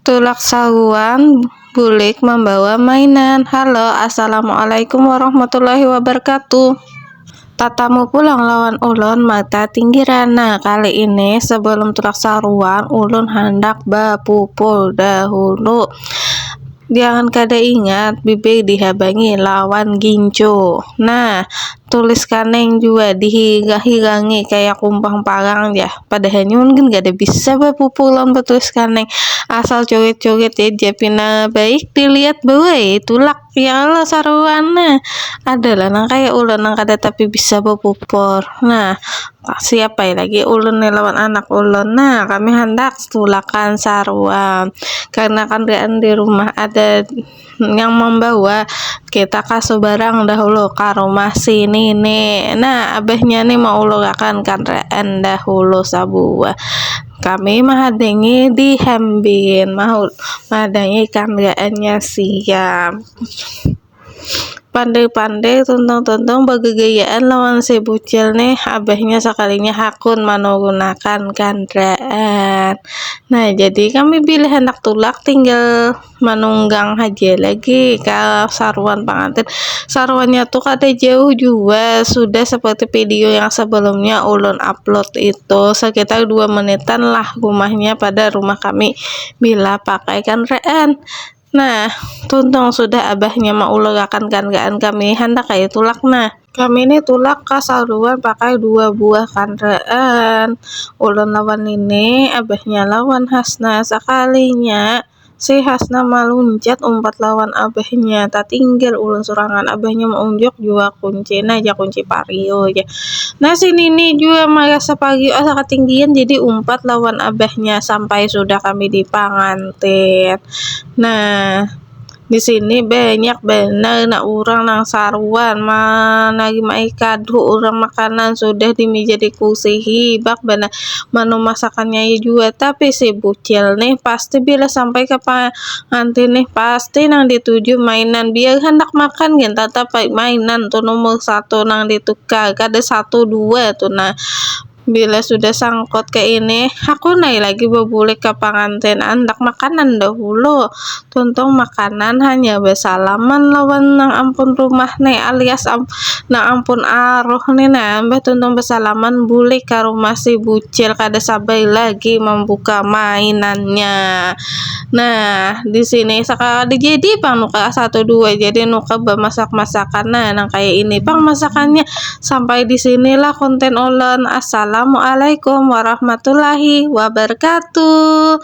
Tulak sahuan bulik mambawa mainan. Halo, assalamualaikum warahmatullahi wabarakatuh. Tatamu pulang lawan ulun mata tinggiran. Nah, kali ini sebelum tulak saruan, ulun handak bapupul dahulu. Jangan kada ingat, bibir dihabangi lawan gincu. Nah, Tulis kaneng jua dihiga-higangi kaya kumpang parang ja. Padahalnya ulun gin kada bisa bapupu lawan batulis kaneng. Asal curit-curit ja dia pina baik dilihat buai. Tulak, ya Allah saruan ne. Ada lah nang kaya ulun nang kada tapi bisa bapupur. Nah, siapa ai lagi ulun ni lawan anak ulun. Nah, kami handak tulakan saruan. Karena kan di rumah ada. yang membawa kita ka subarang dahulu ka rumah si nini nah abahnya ni maulurakan kandaraan dahulu sabuah kami mahadangi di hambin mahul mahadangi kandaraannya sia pandai-pandai tuntung-tuntung bagagayaan lawan si bucil nih abahnya sakalinya hakun manurunakan kandaraan nah jadi kami bilih handak tulak tinggal. manunggang haja lagi kalau saruan pengantin saruannya tuh kada jauh juga sudah seperti video yang sebelumnya ulun upload itu sekitar dua menitan lah rumahnya pada rumah kami bila pakai kendaraan nah tuntung sudah abahnya maulurakan kendaraan kami handak kaya tulak nah kami ni tulak ka saruan pakai dua buah kendaraan ulun lawan nini abahnya lawan hasna sakalinya. Si Hasna maluncat umpat lawan abahnya, tatinggal ulun surangan, abahnya maunjuk jua kunci nah jar kunci pariu jar, nah si nini jua marasa pariu asa katinggian jadi umpat lawan abahnya sampai sudah kami di pangantin, nah disini banyak banar nah urang nang saruan manarima ikadu urang makanan sudah di meja di kursi hibak banar. manu masakan nyai jua tapi si bucil nih pasti bila sampai ka pangantin nih pasti nang dituju mainan biar handak makan gin tatap ai mainan tu nomor satu nang ditukar kada satu dua tu nah bila sudah sangkut kaini hakun ai lagi babulik ka pangantin andak makanan dahulu Tuntung makanan hanya basalaman lawan nang ampun rumah ne alias nang ampun aruh ne nah, mbah tuntung basalaman bulik ka rumah si bucil kada sabai lagi mambuka mainannya. Nah disini sakala dijadi pang nuka satu dua jadi nuka bamasak masakan nah nang kaya ini pang masakannya sampai disini lah konten ulun assalamualaikum warahmatullahi wabarkatuh.